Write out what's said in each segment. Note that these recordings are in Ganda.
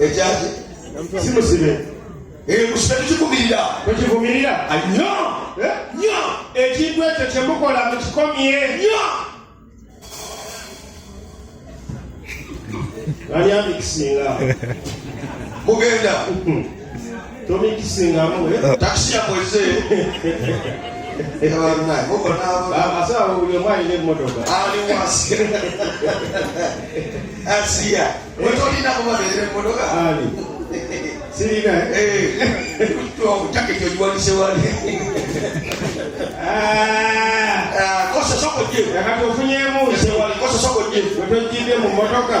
ekyaki simusibe emusibe tukivumirira tukivumirira nyo nyo ekintu ekyo kyemukola mukikomye nyo ani amikisinga mugenda tomikisingamu eh? takisi yakweze abasawo buli omu alina emmotoka aliwasi asiya wetolina kubabeera emmotoka ali sirina jaketi ogiwanise wali kosa soko je akati ofunyemu kosa soko je wetojjidde mu mmotoka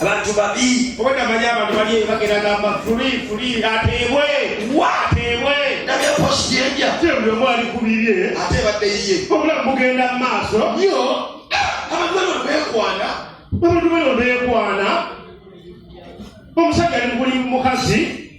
abantu babi obwedda manyi abantu bali bagenda gamba fuli fuli ateebwe wa ateebwe nabye post yenja tebuli omu ali ku bibye ate badde yiye obulamu bugenda mu maaso yo abantu bano beekwana abantu bano beekwana omusajja ali mukuli mukazi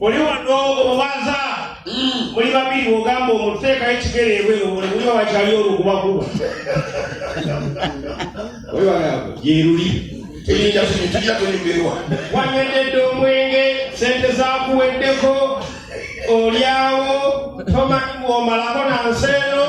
oli wano obaza hmm. muli babiri ogamba omuteekayo ekigere ebweru buli muli wabakyali olukubakuba yeruli wanyweddedde omwenge sente zakuweddeko olyawo tomanyi bwomalako na nsi eno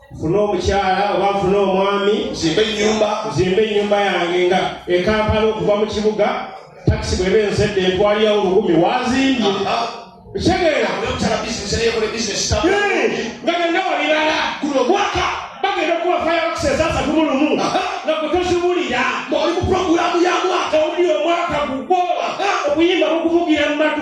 nfune omukyala oba nfune omwami nzimbe enyumba nzimbe enyumba yange nga ekampala okuva mu kibuga takisi bweba ensedde entwaliyawo olukumi wazimbye ekitegeera nga byonna wabirala guno gwaka bagenda okuwa fireworks ezasatu mu lumu nga kutozibulira ng'oli mu puroguramu ya mwaka owuli omwaka gugwo obuyimba bukuvugira mu matu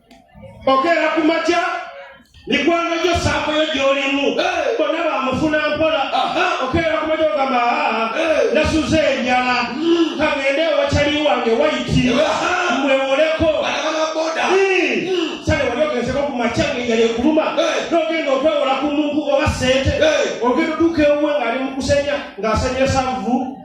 okeera ku makya mikwano gyo saakoyo gyolimu bona bamufuna mpola okeera ku makya ogamba nasuze enjala hmm. kagende ewacali wange waiti mwewoleko makyageyale kuluma nogenda okwewola ku muntu oba sente ogenda oduka ewuwe ngaali mukusenya ngaasanyira savu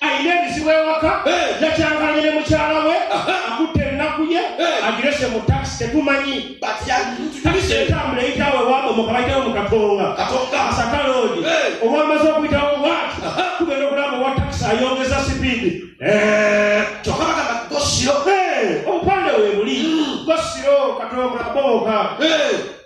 alina ebizibu ewaka yakyanganye ne mukyala we akutte ennaku ye agirese mu takisi tetumanyi takisi etambula eyitawo ewabomoka bayitawo mu katonga asaka loodi owamaze okuyitawo watu tugenda okulaba owa takisi ayongeza sipiidi kyokka bagamba gosiro obupande webuli gosiro katonga bomoka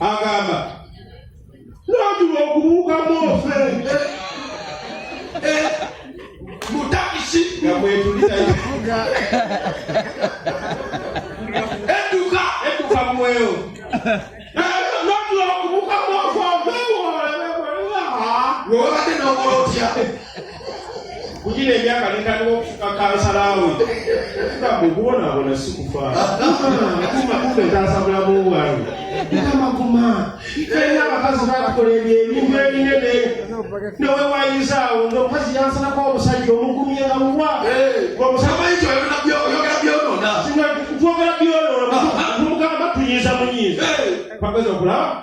agamba nandula okubuukamu ofe eh, mutakisi nga mwetulirayo edduka edduka mweyo kugina emyaka netandika okufuka kansala we okuga mukubonaabona si kufaataasa bulamu bwange amaguma era abakazi batukola ebyo ebintu ebinene newewayizaawo ngaomukazi yansanako omusajja omugumye nga muwa twogera byonoona mugamba tuyiza munyiza pageza okulaba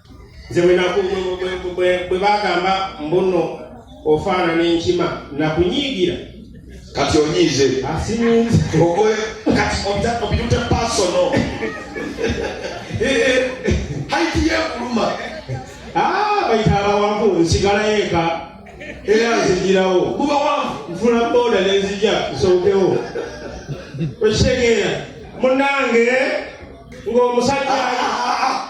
nze bwe bagamba mbuno ofaanana enkima nakunyiigira kati onyiize obirute pasono haiti yekuluma ah, bayita abawanvu nsigala yeka era nzijirawo bubawanvu nfuna boda nenzija nsokewo okitegeera munange ng'omusajja ah, ah,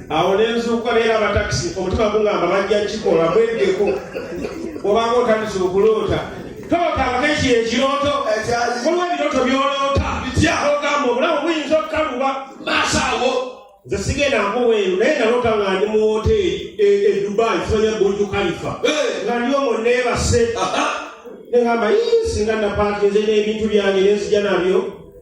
awo nenzuukuka leero abatakisi omutima gungamba bajja kikola mwegeko obanga otandise okuloota tootanga ekyo ekirooto waliwo ebirooto byoloota bitya ogamba obulamu buyinza okukaluba maaso awo nze sigenda nkuweeru naye naloota nga ndi mu woteeri e, e dubai kimanya burju kalifa nga ndi omwo neebase negamba singa napakinze n'ebintu byange nenzija nabyo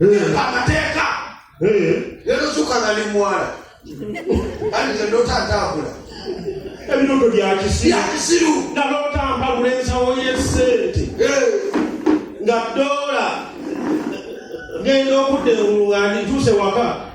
namba amateeka lero zuka nali mwala ani nalota atambula ebiroto byakisiru nalota mpagula ensawo yesente nga dola ngenda okudda engulu nga ndituuse waka